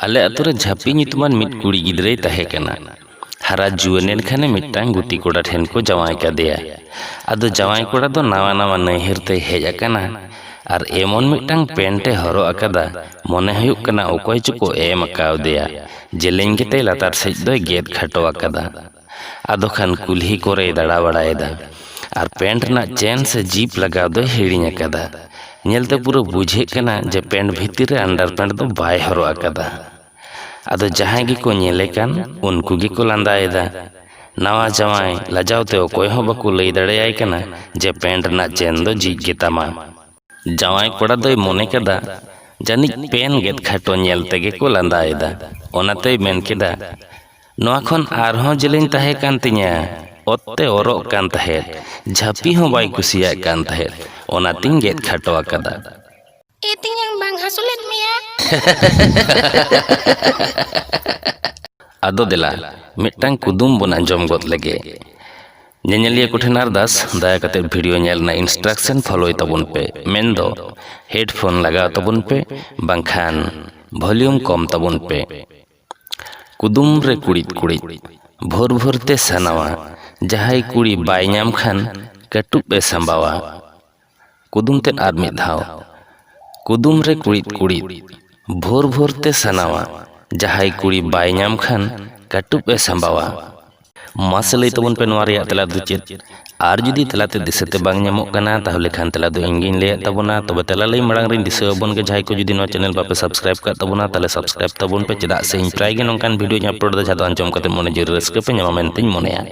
ᱟᱞᱮ ᱟᱛᱳ ᱨᱮ ᱡᱷᱟᱹᱯᱤ ᱧᱩᱛᱩᱢᱟᱱ ᱢᱤᱫ ᱠᱩᱲᱤ ᱜᱤᱫᱽᱨᱟᱹᱭ ᱛᱟᱦᱮᱸ ᱠᱟᱱᱟ᱾ ᱦᱟᱨᱟ ᱡᱩᱣᱟᱹᱱ ᱮᱱ ᱠᱷᱟᱱᱮ ᱢᱤᱫᱴᱟᱝ ᱜᱩᱛᱤ ᱠᱚᱲᱟ ᱴᱷᱮᱱ ᱠᱚ ᱡᱟᱶᱟᱭ ᱠᱟᱫᱮᱭᱟ᱾ ᱟᱫᱚ ᱡᱟᱶᱟᱭ ᱠᱚᱲᱟ ᱫᱚ ᱱᱟᱣᱟ ᱱᱟᱣᱟ ᱱᱟᱹᱭᱦᱟᱹᱨ ᱛᱮᱭ ᱦᱮᱡ ᱟᱠᱟᱱᱟ ᱟᱨ ᱮᱢᱚᱱ ᱢᱤᱫᱴᱟᱝ ᱯᱮᱱᱴ ᱮ ᱦᱚᱨᱚᱜ ᱟᱠᱟᱫᱟ ᱢᱚᱱᱮ ᱦᱩᱭᱩᱜ ᱠᱟᱱᱟ ᱚᱠᱚᱭ ᱪᱚᱠᱚ ᱮᱢ ᱟᱠᱟᱣᱫᱮᱭᱟ᱾ ᱡᱮᱞᱮᱧ ᱜᱮᱛᱟᱭ ᱞᱟᱛᱟᱨ ᱥᱮᱡ ᱫᱚᱭ ᱜᱮᱫ ᱠᱷᱟᱴᱚ ᱟᱠᱟᱫᱟ᱾ ᱟᱫᱚ ᱠᱷᱟᱱ ᱠᱩᱞᱦᱤ ᱠᱚᱨᱮᱭ ᱫᱟᱬᱟ ᱵᱟᱲᱟᱭᱮᱫᱟ ᱟᱨ ᱯᱮᱱᱴ ᱨᱮᱱᱟᱜ ᱪᱮᱱ ᱥᱮ ᱡᱤᱯ ᱞᱟᱜᱟᱣ ᱫᱚᱭ ᱦᱤᱲᱤᱧ ᱟᱠᱟᱫᱟ ᱧᱮᱞᱛᱮ ᱯᱩᱨᱟᱹ ᱵᱩᱡᱷᱟᱹᱜ ᱠᱟᱱᱟ ᱡᱮ ᱯᱮᱱᱴ ᱵᱷᱤᱛᱤᱨ ᱨᱮ ᱟᱱᱰᱟᱨ ᱯᱮᱱᱴ ᱫᱚ ᱵᱟᱭ ᱦᱚᱨᱚᱜ ᱟᱠᱟᱫᱟ ᱟᱫᱚ ᱡᱟᱦᱟᱸᱭ ᱜᱮᱠᱚ ᱧᱮᱞᱮ ᱠᱟᱱ ᱩᱱᱠᱩ ᱜᱮᱠᱚ ᱞᱟᱸᱫᱟᱭᱮᱫᱟ ᱱᱟᱣᱟ ᱡᱟᱶᱟᱭ ᱞᱟᱡᱟᱣ ᱛᱮ ᱚᱠᱚᱭ ᱦᱚᱸ ᱵᱟᱠᱚ ᱞᱟᱹᱭ ᱫᱟᱲᱮᱭᱟᱭ ᱠᱟᱱᱟ ᱡᱮ ᱯᱮᱱᱴ ᱨᱮᱱᱟᱜ ᱪᱮᱱ ᱫᱚ ᱡᱷᱤᱡ ᱜᱮᱛᱟᱢᱟ ᱡᱟᱶᱟᱭ ᱠᱚᱲᱟ ᱫᱚᱭ ᱢᱚᱱᱮ ᱠᱮᱫᱟ ᱡᱟᱹᱱᱤᱡ ᱯᱮᱱ ᱜᱮᱫ ᱠᱷᱟᱴᱚ ᱧᱮᱞ ᱛᱮᱜᱮ ᱠᱚ ᱞᱟᱸᱫᱟᱭᱮᱫᱟ ᱚᱱᱟᱛᱮᱭ ᱢᱮᱱ ᱠᱮᱫᱟ ᱱᱚᱣᱟ ᱠᱷᱚᱱ ᱟᱨᱦᱚᱸ ᱡᱮᱞᱮᱧ ᱛᱟᱦᱮᱸ ᱠᱟᱱ ᱛᱤᱧᱟᱹ ᱚᱛ ᱛᱮ ᱚᱨᱚᱜ ᱠᱟᱱ ᱛᱟᱦᱮᱸᱫ ᱡᱷᱟᱹᱯᱤ ᱦᱚᱸ ᱵᱟᱭ ᱠᱩᱥᱤᱭᱟᱜ ᱠᱟᱱ ᱛᱟᱦᱮᱸᱫ ᱚᱱᱟᱛᱤᱧ ᱜᱮᱫ ᱠᱷᱟᱴᱚ ᱟᱠᱟᱫᱟ᱾ ᱮ ᱛᱮᱧᱟᱝ ᱵᱟᱝ ᱦᱟᱹᱥᱩ ᱞᱮᱫ ᱢᱮᱭᱟ? ᱟᱫᱚ ᱫᱮᱞᱟ ᱢᱤᱫᱴᱟᱝ ᱠᱩᱫᱩᱢ ᱵᱚᱱ ᱟᱸᱡᱚᱢ ᱜᱚᱫ ᱞᱮᱜᱮ᱾ ᱧᱮᱧᱮᱞᱤᱭᱟᱹ ᱠᱚᱴᱷᱮᱱ ᱟᱨᱫᱟᱥ, ᱫᱟᱭᱟ ᱠᱟᱛᱮ ᱵᱷᱤᱰᱤᱭᱳ ᱧᱮᱞ ᱨᱮᱱᱟᱜ ᱤᱱᱥᱴᱨᱟᱠᱥᱚᱱ ᱯᱷᱚᱞᱳᱭ ᱛᱟᱵᱚᱱ ᱯᱮ, ᱢᱮᱱᱫᱚ ᱦᱮᱰᱯᱷᱳᱱ ᱞᱟᱜᱟᱣ ᱛᱟᱵᱚᱱ ᱯᱮ ᱵᱟᱝᱠᱷᱟᱱ ᱵᱷᱚᱞᱤᱭᱩᱢ ᱠᱚᱢ ᱛᱟᱵᱚᱱ ᱯᱮ᱾ ᱠᱩᱫᱩᱢ ᱨᱮ ᱠᱩᱲᱤᱫ ᱠᱩᱲᱤᱫ ᱵᱷᱳᱨ ᱵᱷᱳᱨ ᱛᱮ ᱥᱟᱱᱟᱣᱟ ᱡᱟᱦᱟᱸᱭ ᱠᱩᱲᱤ ᱵᱟᱭ ᱧᱟᱢ ᱠᱷᱟᱱ ᱠᱟᱹᱴᱩᱵ ᱮ ᱥᱟᱢᱵᱟᱣᱟ ᱠᱩᱫᱩᱢ ᱛᱮᱫ ᱟᱨ ᱢᱤᱫ ᱫᱷᱟᱣ ᱠᱩᱫᱩᱢ ᱨᱮ ᱠᱩᱲᱤᱫ ᱠᱩᱲᱤᱫ ᱵᱷᱳᱨ ᱵᱷᱳᱨ ᱛᱮ ᱥᱟᱱᱟᱣᱟ ᱡᱟᱦᱟᱸᱭ ᱠᱩᱲᱤ ᱵᱟᱭ ᱧᱟᱢ ᱠᱷᱟᱱ ᱠᱟᱹᱴᱩᱵ ᱮ ᱥᱟᱢᱵᱟᱣᱟ ᱢᱟᱥᱮ ᱞᱟᱹᱭ ᱛᱟᱵᱚᱱ ᱯᱮ ᱱᱚᱣᱟ ᱨᱮᱭᱟᱜ ᱛᱮᱞᱟ ᱫᱚ ᱪᱮᱫ ᱟᱨ ᱡᱩᱫᱤ ᱛᱮᱞᱟᱛᱮ ᱫᱤᱥᱟᱹᱛᱮ ᱵᱟᱝ ᱧᱟᱢᱚᱜ ᱠᱟᱱᱟ ᱛᱟᱦᱚᱞᱮ ᱠᱷᱟᱱ ᱛᱮᱞᱟ ᱫᱚ ᱤᱧ ᱜᱤᱧ ᱞᱟᱹᱭᱟᱫ ᱛᱟᱵᱚᱱᱟ ᱛᱚᱵᱮ ᱛᱮᱞᱟ ᱞᱟᱹᱭ ᱢᱟᱲᱟᱝ ᱨᱤᱧ ᱫᱤᱥᱟᱹ ᱟᱵᱚᱱ ᱜᱮ ᱡᱟᱦᱟᱸᱭ ᱠᱚ ᱡᱩᱫᱤ ᱱᱚᱣᱟ ᱪᱮᱱᱮᱞ ᱵᱟᱯᱮ ᱥᱟᱵᱥᱠᱨᱟᱭᱤᱵᱽ ᱠᱟᱜ ᱛᱟᱵᱚᱱᱟ ᱛᱟᱦᱚᱞᱮ ᱥᱟᱵᱥᱠᱨᱟᱭᱤᱵᱽ ᱛᱟᱵᱚᱱ ᱯᱮ ᱪᱮᱫᱟᱜ ᱥᱮ ᱤᱧ ᱯᱨᱟᱭ ᱜᱮ ᱱᱚᱝᱠᱟᱱ ᱵᱷᱤᱰᱭᱳᱧ ᱟᱯᱞᱳᱰ ᱮᱫᱟ ᱡᱟᱦᱟᱸ ᱫᱚ ᱟᱸᱡᱚᱢ ᱠᱟᱛᱮ ᱢᱚᱱᱮ ᱡᱤᱣᱤ ᱨᱮ ᱨᱟᱹᱥᱠᱟᱹ ᱯᱮ ᱧᱟᱢᱟ ᱢᱮᱱᱛᱮᱧ ᱢᱚᱱᱮᱭᱟ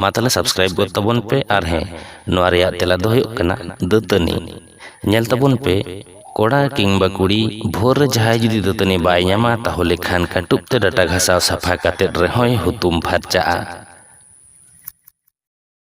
ᱢᱟ ᱛᱟᱦᱚᱞᱮ ᱥᱟᱵᱥᱠᱨᱟᱭᱤᱵᱽ ᱜᱚᱫ ᱛᱟᱵᱚᱱ ᱯᱮ ᱟᱨ ᱦᱮᱸ ᱱᱚᱣᱟ ᱨᱮᱭᱟᱜ ᱛᱮᱞᱟ ᱫᱚ ᱦᱩᱭᱩᱜ ᱠᱟᱱᱟ ᱫᱟᱹᱛᱟᱹᱱᱤ ᱧᱮᱞ ᱛᱟᱵᱚᱱ ᱯᱮ ᱠᱚᱲᱟ ᱠᱤᱝᱵᱟ ᱠᱩᱲᱤ ᱵᱷᱳᱨ ᱨᱮ ᱡᱟᱦᱟᱸᱭ ᱡᱩᱫᱤ ᱫᱟᱹᱛᱟᱹᱱᱤ ᱵᱟᱭ ᱧᱟᱢᱟ ᱛᱟᱦᱚᱞᱮ ᱠᱷᱟᱱ ᱠᱟᱹᱴᱩᱵ ᱛᱮ ᱰᱟᱴᱟ ᱜᱷᱟᱥᱟᱣ ᱥᱟᱯᱷᱟ ᱠᱟᱛᱮᱫ ᱨᱮᱦᱚᱸᱭ ᱦᱩᱛᱩᱢ ᱯᱷᱟᱨᱪᱟᱜᱼᱟ